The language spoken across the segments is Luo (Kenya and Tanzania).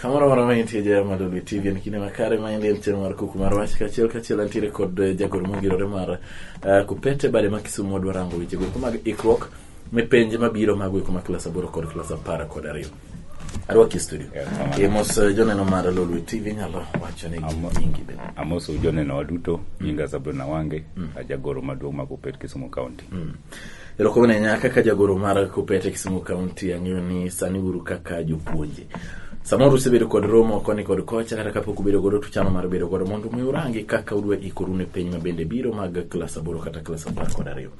Kamoro moro ma intie jaya ma Lolwe TV en kinde makare ma endi en chenro mar kuku mar wach kachiel kachiel antiere kod eh, jagoro mongirore mar eh, Kupete bade ma Kisumu wadwa rango weche goeko mag ikruok ne penj mabiro mag goeko ma klas aboro kod klas apar kod ariyo. Arwaki e studio. Erokamano. E mos eh, joneno mar Lolwe TV nyalo wacho ne Amo- nyingi bende. amoso joneno waduto nyinga sabrina wange ajagoro maduong' ma kupet kisumu county Mm. Erokom ne nyaka ka jagoro mar Kupete Kisumu County ang'eyo ni sani uru kaka jopuonje. Samoro usebedo kod romo koni kod kocha kata kapok ubedo godo tuchano mar bedo godo mondo mi urangi kaka udwa ikoru ne piny mabende biro mag klas aboro kata klas apar kod ariyo.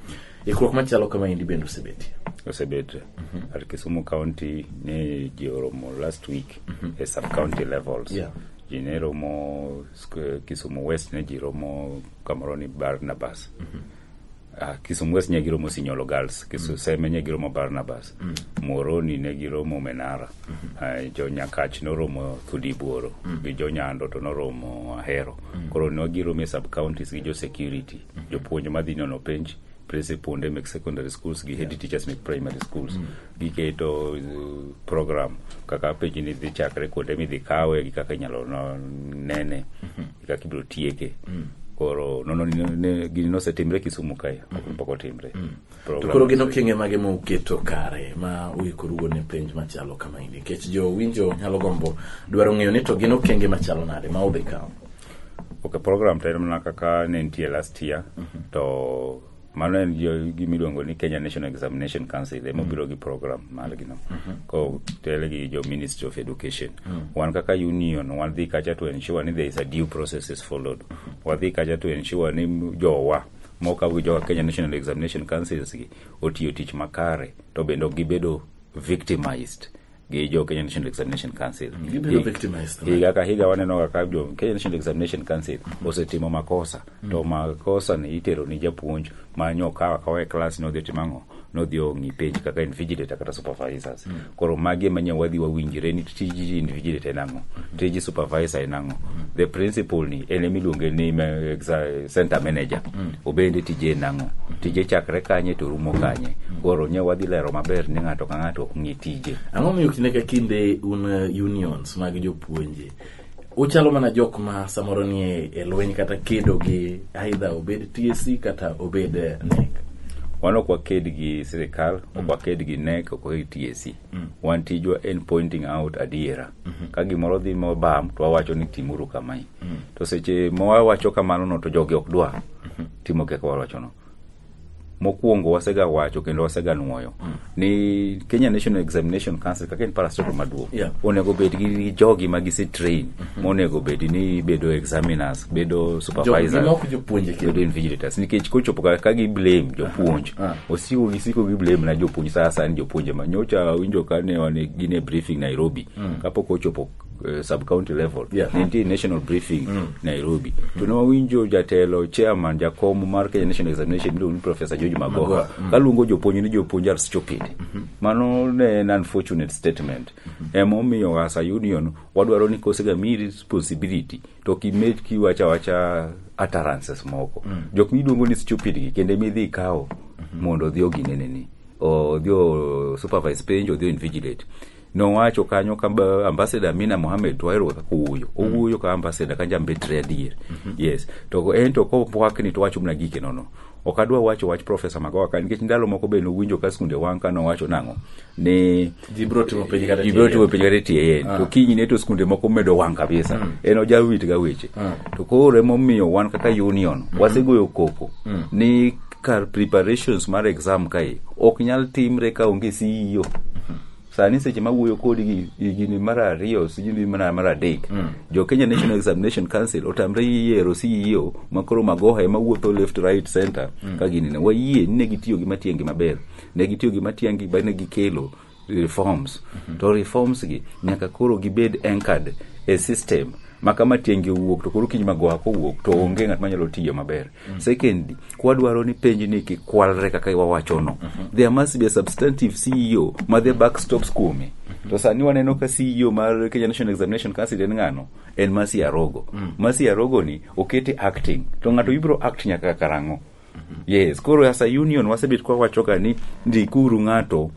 Ikruok machalo kama endi bende osebetie. Osebet mm -hmm. at Kisumu County ne ji oromo last week mm -hmm. e sub county levels. Yeah. Ji ne romo Kisumu West ne ji romo kamoro ni Barnabas. Mm -hmm. Ah, Kisumu West ne giromo Sinyolo Girls, Kisumu Seme ne giromo Barnabas, Moroni ne giromo Menara, Ah, jo Nyakach noromo Thudibuoro, gi jo Nyando to noromo Ahero. Koro ne giromo e sub counties gi jo security, jopuonj madhi nono penj, principal mek secondary schools gi head teachers mek primary schools giketo uh, program kaka penj ni dhi chakre kuonde midhi kawe gi kaka inyalo no- nene kaka ibiro tieke koro nono ni- ni- gini nosetimre kisumu kae pok otimre To Program- koro gin okenge mage ma uketo kare ma uikorugo ne penj machalo kama ini nikech jo winjo nyalo gombo dwaro ng'eyo ni to gin okenge machalo nade ma udhi kawo ok program to en mana kaka ne nitie last year to mano en gima iluongo ni kenya national examination council ema mm. obiro gi program margino mm-hmm. ko tele gi jo ministry of education mm. wan kaka union wadhi kacha to ensure ni there is a due process is followed mm-hmm. wadhi kacha to ensure ni jowa moka gi jowa kenya national examination councils gi otiyo tich makare to bende ok gibedo victimized gi jo Kenya National Examination Council. Mm, gibedo Hi- victimized, right? Higa ka higa waneno kaka jo Kenya National Examination Council osetimo makosa to makosa ni itero ni japuonj ma nyokawa kawa e klas ni odhi otimo ang'o nodhi ong'i penj kaka invigilator kata supervisors koro magi ema nyaka wadhi wawinjre ni tij invigilator en ang'o tij supervisor en ang'o the principal ni en ema iluonge ni ma- exa- center manager obende tije en ang'o tije chakre kanye to rumo kanye koro nya wadhi lero maber ni ng'ato ka ng'ato ok ng'i tije ang'o miyo kinde ka kinde un uh, unions mag jopuonje uchalo mana jok ma samoro nie e lweny kata kedo gi aidha obed tsc kata obed eh, nek wan ok waked gi sirikal ok mm. waked gi nek ok waked gi tac mm. wan tijwa en pointing out adiera mm-hmm. ka gimoro dhi mobam to wawacho ni timuru kamae mm. to seche mawawacho kamano no to jogi ok dwa mm-hmm. timo kaka wawachono mokwongo wasega wacho kendo wasega nwoyo mm. ni Kenya National Examination Council kaka en parastatal maduong' yeah. onego bed gi jogi ma gise train mm -hmm. monego bed ni bedo examiners bedo supervisors bedo invigilators nikech kochopo ka gi blame jopuonj uh ah, -huh. Ah. osiko gisiko gi blame na jopuonj sasa ni jopuonje ma nyocha winjo kane wane gine briefing Nairobi mm. kapok ochopo eh, sub county level Yeah. nitie national briefing nairobi to ne wawinjo jatelo chairman jakom mar kenya national examination miluongo ni professor george magoha kaluongo jopuonj ni jopuonj are stupid mano ne en unfortunate statement emomiyo as a union wadwaro ni kosega mi responsibility to kimed kiwacha wacha utterances moko jok miluongo ni stupid gi kendo midhi ikawo mondo odhi ogineneni odhi o supervise penj odhi o invigilate nowacho kanyo ka ba- ambassador Amina Mohamed to wahero kaka owuoyo owuoyo ka ambassador ka jambetre adier yes to en to kopwakni to wacho mna gike nono ok adwa wacho wach profesa magowa ka nikech ndalo moko be nowinjo ka skunde wang' ka nowacho nang'o ni Ji biro timo penj kata ji biro timo penj kata tie yen to kinyne to skunde moko medo wang' kabisa en ojawit ga weche to koro emomiyo wan kaka union wasegoyo koko ni kar preparations mar exam kae ok nyal timre ka onge CEO sani seche ma wuoyo kodi gi higni mar ariyo sijui mana mar adek jo kenya national examination council otamre yiero ceo makoro magoha ema wuotho left right center ka gini ne wayie ni ne gitiyo gi matiangi maber ne gitiyo gi matiangi ba ne gikelo reforms to reforms gi nyaka koro gibed anchored e system ma kama tienge owuok to koro kiny magoha kowuok to onge ng'at manyalo tiyo maber Mm. Secondly, kwa dwaro ni penj ni ki kwalre kaka iwa wacho no. Mm -hmm. There must be a substantive CEO ma the back stops kume. Mm -hmm. To sani waneno ka CEO mar Kenya National Examination Council en ng'ano? En Masi Arogo. Mm. Masi Arogo ni okete acting. To ng'ato ibro act nyaka karango. Mm yes koro as a union wasebet kwa wacho ka ni ndikuru ng'ato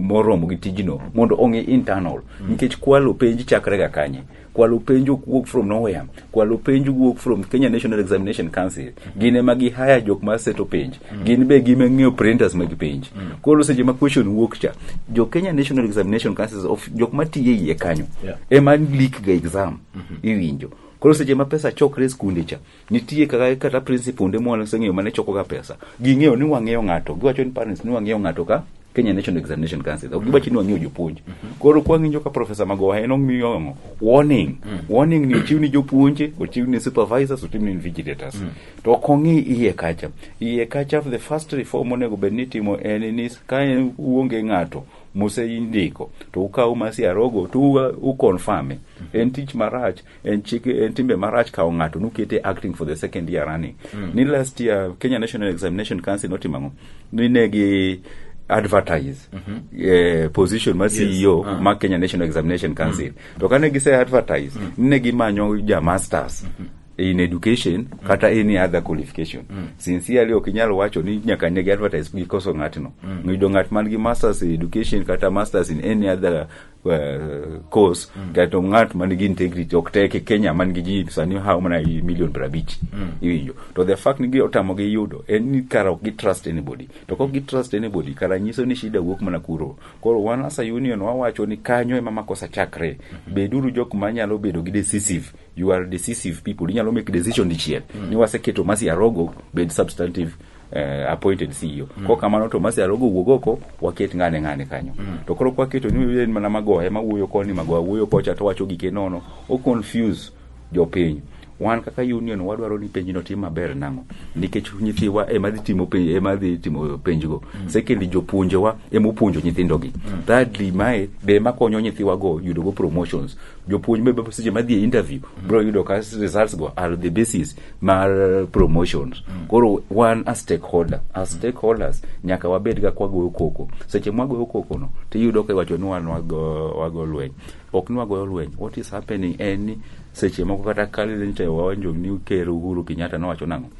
moromo gi tijno mondo ong'e internal mm. nikech kwalo penj chakre ga kanye kwalo penjo wuok from nowhere kwalo penjo wuok from kenya national examination council gin ema gi haya jok ma seto penj gin be gima ng'eyo printers mag penj koro seche ma question wuok cha jo kenya national examination council of jok ma tiye iye kanyo Yeah. ema leak ga exam iwinjo koro seche ma pesa chokre e skunde cha nitie kaka kata principonde mwa naseng'eyo mane chokoga pesa ging'eyo ni wang'eyo ng'ato giwacho ni parents ni wang'eyo ng'ato ka Kenya National Examination Council ok giwacho ni wang'eyo jopuonj koro kwang'injo ka profesa magoha en omiyo ang'o? warning warning ni ochiw ni jopuonje ochiw ni supervisors ochiw ni vigilators to ok ong'i iye kacha iye kacha the first reform onego bed ni itimo en ni ka en- uonge ng'ato mose indiko to ukaw masi arogo to u- u confirm en tich marach en chik en timbe marach kawo ng'ato nukete acting for the second year running mm. ni last year Kenya National Examination Council notimo ang'o ni ne gi advertise mm -hmm. eh, position ma CEO yes. uh. ma Kenya National Examination Council mm. to kane gise advertise mm. ne gimanyo ja masters mm -hmm in education mm. kata any other qualification mm. sincerely ok inyal wacho ni nyaka negi advertise gikoso ng'atno mm. ng'iyudo ng'at man gi masters in education kata masters in any other eh, course kato ng'at man gi integrity ok tek e Kenya man gi ji sani hawo mana i milion piero abich iwinjo to the fact ni gi otamo gi yudo en ni kara ok gi trust anybody to kok gi trust anybody kara nyiso ni shida wuok mana kuro koro wan as a union wawacho ni kanyo ema makosa chakre beduru jok manyalo bedo gi decisive you are decisive people inyalo make decision dichiel ni waseketo Mercy Arogo bed substantive eh, appointed CEO. Mm. Kwa kamano to masi alogo wuog oko waket ng'ane ng'ane kanyo. Mm. To koro kwa keto ni en mana magoye ma wuoyo koni magoya wuoyo kocha to wacho gike nono o confuse jopiny. Wan kaka union wadwaro ni penj no tim maber nang'o nikech nyithiwa ema dhi timo penj ema dhi timo penjgo. Mm. Secondly jopuonjewa ema opuonjo nyithindogi. Mm. Thirdly mae be ema konyo nyithiwa go yudo go promotions. Jopuonj be seche ma dhi e interview mm. bro yudo ka results go are the basis mar promotions koro wan a stakeholder a stakeholders nyaka wabed ga kwagoyo koko seche mwagoyo koko no tiyudo ka iwacho ni wan wago, wago lweny ok ni wagoyo lweny what is happening en ni seche moko kata kalente wawanjo ni ker uhuru kenyatta nowacho nang'o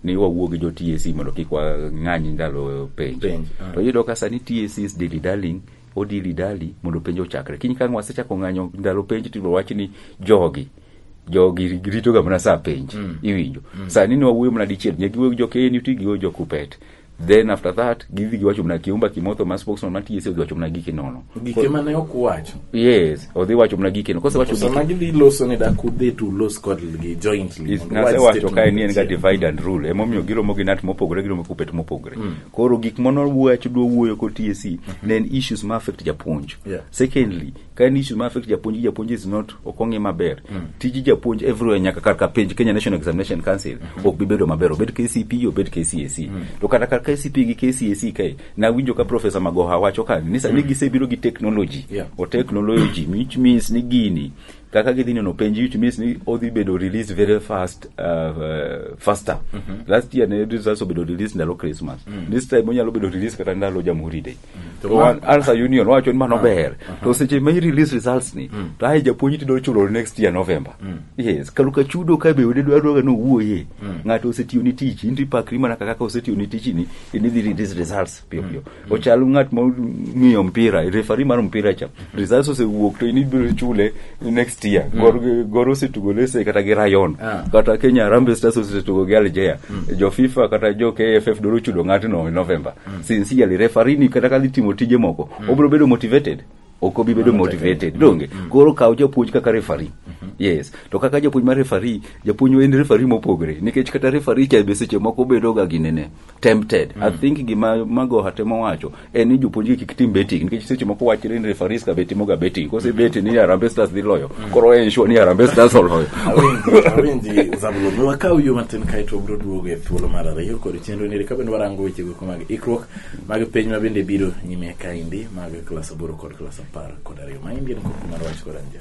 ni wawuo gi jo tac mondo kik wang'any ndalo penj Penj, ah. to iyudo ka sani tac is dilly darling Odili dali mondo penj ochakre kiny kang' wasechako ng'anyo ndalo penj to wach ni jogi jogi rito ga mana saa penj mm. iwinjo mm. saa nini wawuoyo mana dichiel nyaka giwuoyo gi jo KNUT giwuoyo jo Kupet then after that gidhi giwacho mna kiumba kimotho ma spokesman ma TSA odhi wacho mna giki nono gike mane ok wacho yes odhi wacho mna giki no kose wacho sama gidhi loso ni da kudhi to los kod gi jointly nase wacho kae ni en ga divide and rule emomiyo giromo gi nat mopogore giromo kupet mopogore mm. koro gik mane wawacho dwa wuoyo kod TSC e, ne en issues ma affect japuonj Yeah. secondly ka en issues ma affect japuonj japuonj is not ok ong'e maber tij japuonj everywhere nyaka kar ka penj Kenya National Examination Council ok bi bedo maber obed KCP obed KCSE to kata kar KCP gi KCSE kae nawinjo ka professor Magoha wacho ka ni sani gisebiro gi technology Yeah. or technology which means ni gini kaka gidhi neno penj which means ni odhi bedo released very fast uh, uh, faster mm -hmm. last year ne results obedo released ndalo christmas mm -hmm. this time onyalo bedo released kata ndalo jamhuri day mm -hmm. to one answer union wacho ni mano ber uh -huh. to seche ma release results ni mm -hmm. to aye japuonj tido chulo next year november mm -hmm. yes kaluka chudo ka be wede dwaro ga no wuoye mm -hmm. ngato osetiyo ni tich inti pakri mana kaka osetiyo ni tich ni ni release results piyo piyo ochal ng'at mong'iyo mpira refari mar mpira cha results osewuok to in ibiro chule next year gor gor osetugo lese kata gi rayon Ah. kata kenya Harambee stars osetugo gi algeria jo fifa kata jo kff doro chudo ng'atno e november sincerely refari ni kata ka dhi timo tije moko obiro bedo motivated ok obi bedo motivated donge koro kaw japuonj kaka refari yes to kaka japuonj mar refari japuonj en refari mopogore nikech kata refari cha be seche moko bedoga gi nene tempted mm. i think gima magoha temo wacho en ni jopuonjgi kik tim betting nikech seche moko wachre ni referees ka betimo ga betting kose mm. beti ni Harambee Stars dhi loyo mm. koro en sure ni Harambee Stars oloyo awinji Zabulon wakaw yo matin kae to bro duogo e thuolo mar ariyo kod chenro ni ka bende warango weche go mag ikruok mag piny ma bende biro nyime kaindi mag klas aboro kod klas apar kod ariyo ma indien koko mar wach kod anja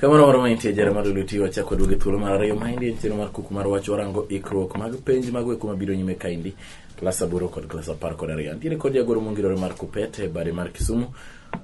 kamano moro maintie jara mar lweti wachako duoge thuolo mar ariyo maendi en chenro mar kuku mar wach warango ikruok mag penj mago eko mabiro nyime kaendi klas aboro kod klas apar kod ariyo antiere kod jagoro mongirore mar kupet e bade mar kisumu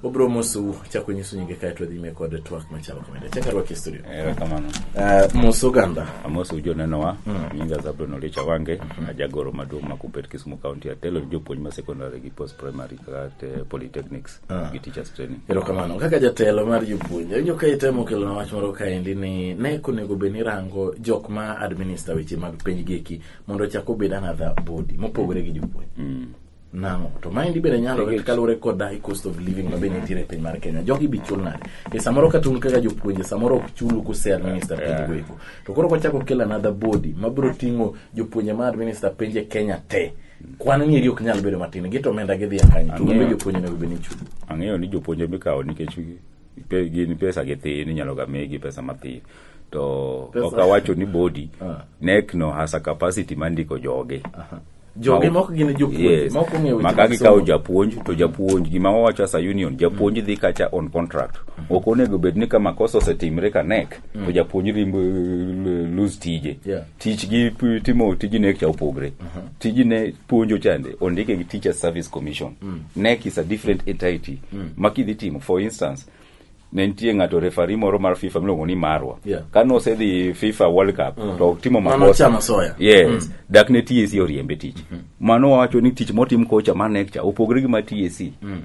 obiro mosu chako nyiso nyinge kaeto dhi nyime kod twak machalo kamende chaka rwaki e studio erokamano uh, mos oganda amos ujo nenowa nyinga zabron olicha wange ajagoro maduong' ma kupet kisumu county atelo ni jopuonj ma secondary gi post primary at uh, polytechnics ah. gi teachers training erokamano kaka jatelo mar jopuonje winjo ka itemo kelona wach moro kaendi ni ne konego bed ni rango jok ma administer weche mag penj gieki mondo chak obed another body mopogore gi jopuonje mm. nang'o to maendi bende nyalore kaluwore kod die cost of living ma bende nitiere e piny mar kenya jogi bi chul nade e samoro ka tun kaka jopuonje samoro ok chulu kuse administer penj goeko to koro kwachako kel another body mabiro ting'o jopuonje ma administer penj e kenya te kwan nieri ok nyal bedo matin gito omenda gidhi akany to gin jopuonj onego bed ni chulo ang'eyo ni jopuonj mikawo nikech gin pesa githin inyalo ga migi pesa mathin to ok awacho ni body ah. nek no has a capacity ma ndiko joge joge moko gin jopuonj moko ng'eyo maka gikawo japuonj to japuonj gima wawacho as a union japuonj dhi kacha on contract mm-hmm. ok onego bed ni ka makosa osetimre ka nek to mm. japuonj rimbo lose tije tich gi p- timo tij nek cha opogre tij ne puonjo chande ondike gi teacher service commission nek is a different entity ma kidhi timo for instance ne nitie ng'ato refari moro mar fifa miluongo ni marwa Yeah. ka nosedhi fifa world cup to otimo Mano makosa chama soya. yes dak ne tac oriembe tich mano wawacho ni tich motim kocha mar nek cha opogre gi ma tac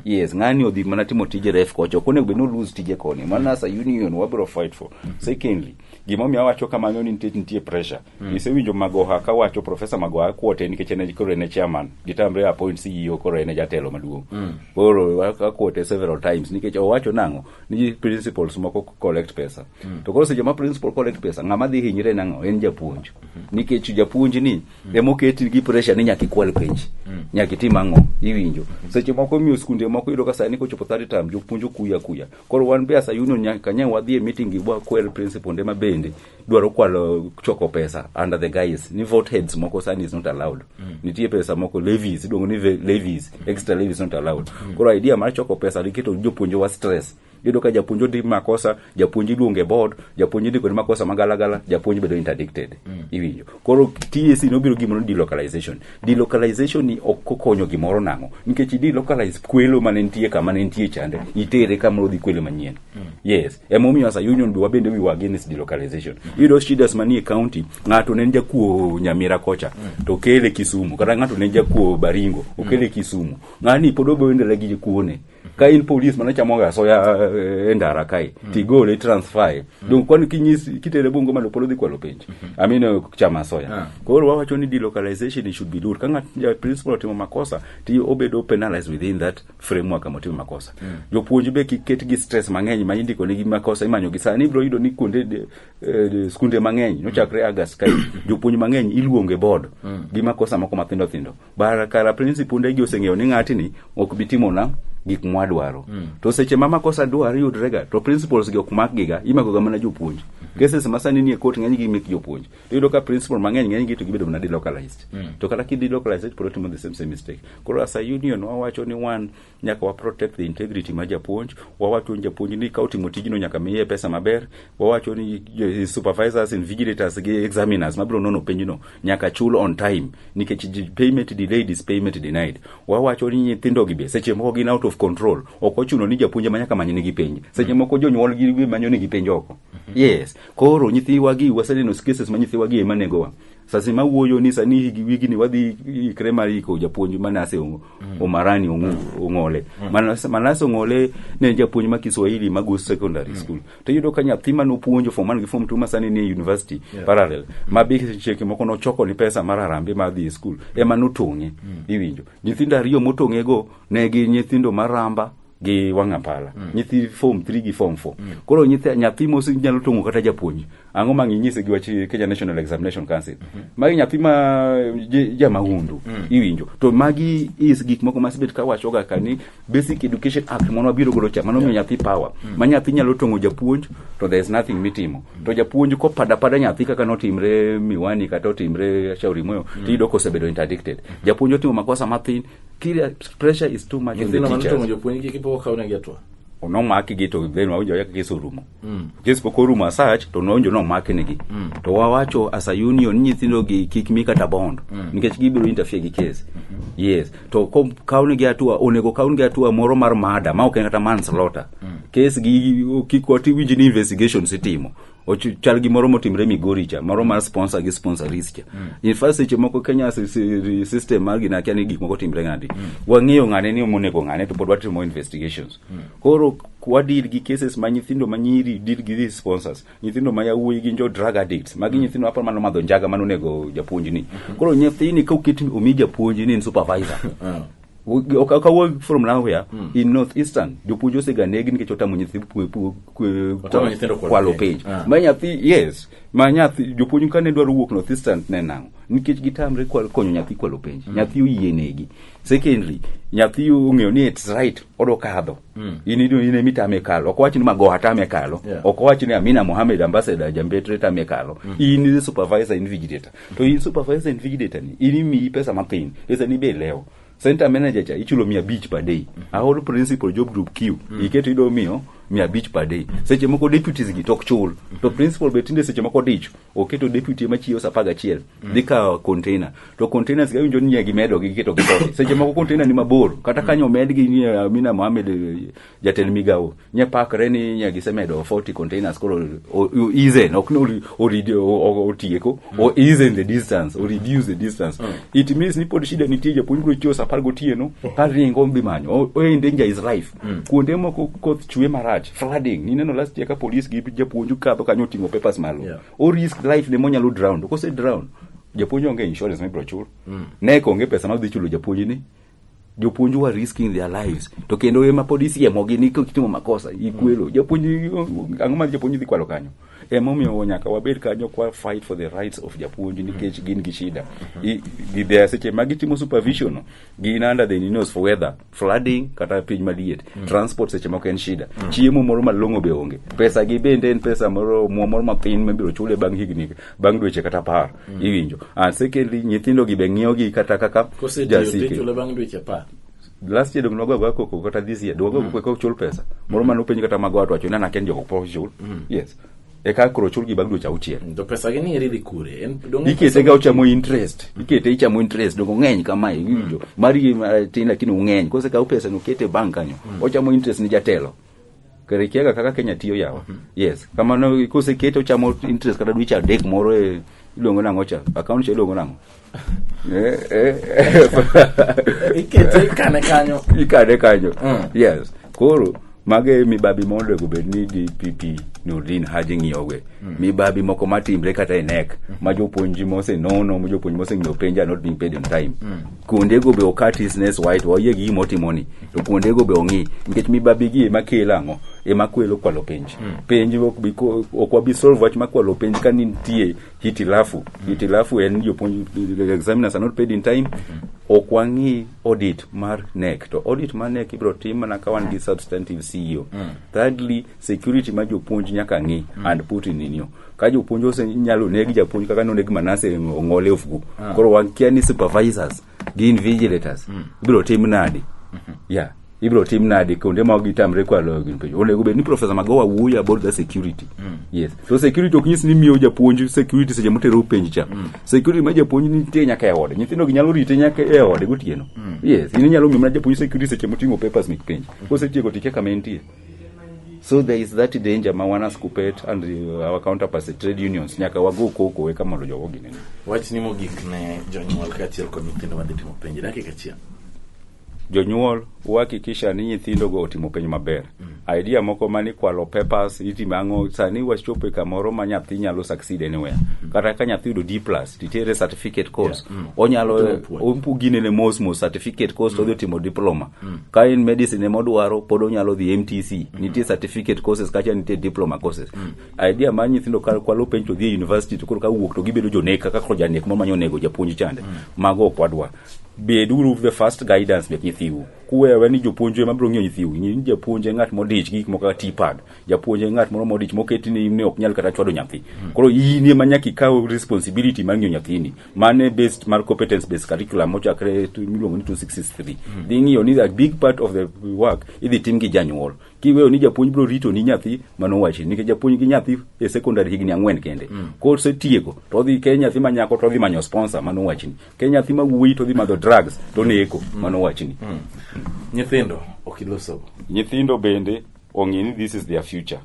yes ng'ani odhi mana timo tije ref kocha ok onego bed ni olose tije koni mana as a union wabiro fight for secondly gimomiyo awacho kamano ni nitie nitie pressure mm. isewinjo magoha ka wacho profesa magoha kwote nikech en e- koro en e chairman gitamre appoint ceo koro en e jatelo maduong mm. koro akwote several times nikech owacho nang'o ni principles moko collect pesa mm. to koro seche ma principal collect pesa ng'ama dhi hinyre nang'o en japuonj mm -hmm. nikech japuonj ni mm. emoketi gi pressure ni nyaka ikwal penj mm. nyaka itim ang'o iwinjo mm -hmm. seche moko miyo skunde moko yudo ka sani kochopo third term jopuonj okuya kuya Koro wan be asa union nyaka nyang wadhi e meeting gi wakwer principal nde ma bende dwaro kwalo choko pesa under the guise ni vote heads moko sani is not allowed. Mm. Nitie pesa moko levies iluongo ni ve- levies extra levies not allowed. Mm. Koro idea mar choko pesa riketo jopuonje wa stress. Iyudo ka japuonj odi makosa, japuonj iluonge board, japuonj ndiko ni makosa magalagala, japuonj bedo interdicted. Mm. Iwinjo. koro TAC nobiro gimoro ni delocalization delocalization ni ok okonyo gimoro nang'o nikech i delocalize kwelo mane nitie kama ne nitie chande itere kama odhi kwelo manyien mm. yes emomiyo as a union be wabende we were against delocalization mm. iyudo shidas manie county ng'ato ne jakuo nyamira kocha mm. to kele kisumu kata ng'ato ne jakuo baringo okele mm. kisumu ng'ani pod oboendele gi kuone ka in polis mana chamo ga soya eh, e ndara kae mm. tigole i transfer mm. donc kwani kinyis kitere bungo malo polo dhi kwalo penj mm-hmm. amino eh, chama soya ah. koro wawacho ni delocalization should be done kanga ja principal otimo makosa ti obedo penalized within that framework kama otimo makosa mm. jopuonj be kiket gi stress mang'eny ma indiko negi makosa imanyo gi sani ibro yudo ni kuonde de, eh, skunde mang'eny nochakre mm. agas kae jopuonj mang'eny iluonge board mm. gi makosa moko mathindo thindo bara kara prinsi punde gi oseng'eyo ni ng'atini ok bi timona gik mwadwaro mm. to seche ma makosa dwar yudrega to principles gi ok makgiga imakoga mana jopuonj mm -hmm. cases ma sani nie court ng'eny gi mek jopuonj to yudo ka principal mang'eny ng'eny gi to gibedo mana delocalized mm. to kata ki delocalized pod otimo the same same mistake koro as a union wawacho ni one nyaka wa protect the integrity ma japuonj wawacho ni japuonj ni ka otimo tijno nyaka miye pesa maber wawacho ni eh, supervisors and vigilators gi examiners mabiro nono penjno nyaka chul on time nikech ji- payment delayed is payment denied wawacho ni nyithindo gi be seche moko gin out of control ok ochuno ni japuonj ma nyaka many nigi penj seche moko jonyuol gi be manyo nigi penj oko yes koro nyithiwa gi waseneno cases ma nyithiwa gi ema negowa sasi ma wuoyo ni sani higi wigini wadhi ikre mar iko japuonj manase Ong- omarani Ong'u- ong'ole Manas- manase ong'ole ne en japuonj ma kiswahili ma go secondary school to iyudo ka nyathi ma nopuonjo form one gi form two ma sani ni e university parallel ma be cheke moko nochoko ni pesa mar arambe mar dhi e school ema notong'e iwinjo nyithindo ariyo motong'ego ne gin nyithindo maramba gi wanga pala mm. nyithi form 3 gi form 4 mm. koro nyithi nyathi mos nyalo tongo kata japuonj ango mangi nyise gi wach Kenya National Examination Council mm -hmm. magi nyathi ma ja mahundu mm. iwinjo to magi is gik moko masibet ka wacho ga kani basic education act mono abiro golo cha mano yeah. nyathi power mm. ma nyathi nyalo tongo japuonj to there is nothing mitimo mm. to japuonj ko pada pada nyathi kaka no timre miwani kata otimre shauri moyo mm. tido kosebedo interdicted mm. japuonj otimo makosa mathin Kila pressure is too much on the Nyithindo mane to teachers. mojo puonjgi kipok okaw negi atua. Onomaki gi to then wawinjo ayaka kes orumo. Mm. Kes pok orumo asach to nowinjo nomaki negi. Mm. To wawacho as a union nyithindo gi kik mi kata bond Mm. nikech gibiro interfere gi kes. Yes. To kom kaw negi atua onego kaw negi atua moro mar mada ma ok en kata manslaughter. Mm. Kes gi kik wati winj ni investigations itimo. Ochu- chal gi moro motimre migori cha moro mar sponsor gi sponsoris cha in fact seche moko kenya si- si- system mar gina kia ni gik moko timre ng'adi wang'eyo ng'ane ni omonego ng'ane to pod watimo investigations koro wadil gi cases ma nyithindo ma nyiri dil gi these sponsors nyithindo ma yawuoyi gin jo drug addicts magi nyithindo aparo mano madho njaga mano onego japuonjni koro nyathini ka oket omi japuonjni en supervisor kawuok from nowhere mm. in north eastern jopuonj osega negi nikech otamo nyithi kwalo penj ah. ma nyathi yes ma nyathi jopuonj kane dwaro wuok north eastern ne nang'o nikech gitamre konyo nyathi kwalo penj mm. nyathi oyie negi secondly nyathi ong'eyo ni it's right odo kadho mm. in in emi tame kalo ok wachni magoha tame kalo yeah. ok wachni amina mohamed ambassador jambetre tame kalo mm. in supervisor in vigilator To in supervisor invigilator ni, in imiyi pesa mathin, pesa ni be ilewo. Center manager cha ichulo mia abich per day. A whole principal job group Q, iketo ido miyo mia abich per day. Seche moko deputies gi tok chul. To principal be tinde seche moko dicho, oketo deputy ma chiwo sa apar gachiel, dhi kawo container. To containers gi awinjo ni nyie gimedo gi giketo gi kode. Seche moko container ni mabor, kata kanyo omedgi ni Amina Mohamed eh, jatend migawo nye pakre ni nye gisemedo 40 containers koro o- o- ease in, ok ni ori- oridi- o- o- otieko o ease in the distance o reduce the distance it means ni pod shida nitie japuonj bro chiwo saa apar gotieno ka ringo dhi manyo O- o in danger is life kuonde moko koth chwe marach flooding nineno last year ka police gi japuonj kadho kanyo oting'o papers malo Yeah. o risk life ne monyalo drown to kose drown japuonj onge insurance mibro chul nek onge pesa ma odhi chulo japuonj ni jopuonj wa risking their lives to kendo ema pod isiemogi ni kitimo makosa ikwelo japuonj ang'o ma japuonj dhi kwalo kanyo emomiyo nyaka wabed kanyo kwa fight for the rights of japuonj nikech gin gi shida I- gi- there seche ma gitimo supervision gin under the news for weather flooding kata piny maliet transport seche moko en shida chiemo moro malong'o be onge pesa gi bende en pesa moro omuom moro mathin mibiro chule bang' higni bang' dweche kata apar mm. iwinjo and secondly nyithindo gi be ng'iyo gi kata kaka jasike last year dogno gwagwa koko kata this year dogwa mm. koko chul pesa moro mane openj kata mago atwacho nana ken joko po chul mm. yes eka koro chul gi bang' dweche auchiel to pesa gi ni eri dhi kure ikete ga ochamo interest ikete ichamo interest dongo ng'eny kama iwinjo mm. mari eh, tin lakini ung'eny kose kaw pesa no kete bank kanyo mm. ochamo interest ni jatelo kare ikiaga kaka kenya tiyo yawa yes kamano kosekete ochamo interest kata dweche adek moro e iluongo nang'o cha account cha iluongo nang'o Eh, eh, eh. Ikete ikane kanyo. ikane kanyo Mm. yes koro mago e mibabi monego bed ni dpp nordin haji ng'iyowe mibabi moko matimre kata e nek ma jopuonj mosenono ma jopuonj moseng'iyo penja not being paid on time kuondego be okati snes white wayie gi gima otimoni to kuondego be ong'i nikech mibabigi ema kelo ang'o ema kwelo kwalo penj hmm. penj ok wabi solve wach makwalo penj ka nitie hitilafu hmm. hitilafu en jopuonj examiners are not paid in time hmm. ok wang'i audit mar nek to audit mar nek ibiro tim mana ka wan gi substantive ceo thirdly security ma jopuonj nyaka ng'i mm. and put in inyo ka jopuonj ose nyalo negi japuonj kaka noneg manase ong'ole ofuku ah. koro wakia ni supervisors gi invigilators mm. ibiro tim nadi mm -hmm. yeah ibiro tim nadi kuonde ma gitamre kwalo gin penjo onego bed ni profesa magowa wuoyo about the security mm. yes so security ok nyis ni miyo japuonj security seche motero penj cha mm. security ma japuonj nitie nyaka e ode nyithindo gi nyalo rite nyaka e ode gotieno mm. yes in inyalo miyo mana japuonj security seche moting'o papers mek penj mm. kosetieko tike kama entie so there is that danger ma wana skupet and uh, our counterparts at trade unions nyaka wago koko eka mondo jogo ginene wachni mogik ne jonyuol kaachiel kod nyithindo madhi timo penj dakika achiel jonyuol uhakikisha ni nyithindogo otimo penj maber mm. idea moko mani kwalo papers itimo ang'o sani wachopo e kamoro ma nyathi nyalo succeed anywhere mm. kata ka nyathi yudo d plus titere certificate course yeah. mm. onyalo oginene mos mos certificate course mm. odhi otimo diploma mm. ka en medicine ema odwaro pod onyalo dhi mtc mm. nitie certificate courses kacha nitie diploma courses mm. idea mar nyithindo ka kwalo penj to dhi e university to koro ka wuok to gibedo jonek kaka koro janek mamanyo onego japuonj chande mm. mago ok wadwa beduru the first guidance mek nyithiu kuwewe ni jopuonj ema biro ng'iyo nyithiu ni japuonj en ng'at modich gi gik moko kaka tipad japuonj en ng'at moro modich moketi ni ne ok nyal kata chwado nyathi mm. koro in ema nyaka ikaw responsibility mar ng'iyo nyathini mane based mar competence based curriculum mochakre tu- miluongo ni 263 dhi ng'iyo ni a big part of the work idhi tim gi janyuol kiweyo ni japuonj biro rito ni nyathi mano wachi nikech japuonj gi nyathi e secondary higni ang'wen kende kosetieko to odhi ke nyathi ma nyako to odhi manyo sponsor mano wachni ke nyathi ma wuoyi to odhi madho drugs to neko mano wachni nyithindo ok ilosogo nyithindo bende ong'e ni this is their future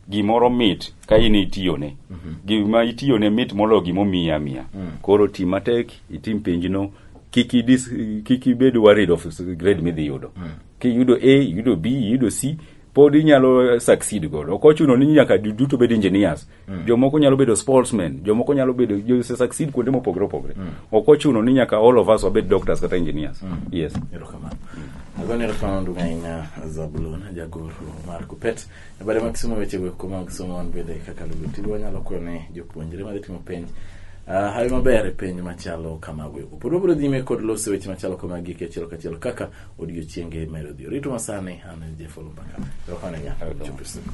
gimoro mit ka in itiyone mhm. gima itiyone mit moloyo gima omiyi amiya mm. koro ti matek itim penjno kik ibed worried of grade midhi yudo mm. kiyudo a yudo b yudo c pod inyalo succeed godo ok ochuno ni nyaka duto bed engineers mm. jomoko nyalo bedo sportsmen jomoko nyalo bedo jose succeed kuonde mopogore opogore mm. ok ochuno ni nyaka all of us wabed doctors kata engineers mm. yes erokamano mm. agone erokamano ndugu ahinya zabulon jagoro mar kupet e bade mag somo weche go kuma mag somo wan bende kaka lugo tigo wanyalo kwayo ne jopuonjre madhi timo penj Ah, hawi maber e penj machalo kamago eko pod wabiro nyime kod loso weche machalo kamagi gi achiel kachiel kaka odiochienge medo dhi orito masani an en jeff olumbaka erokamano nya chopo siku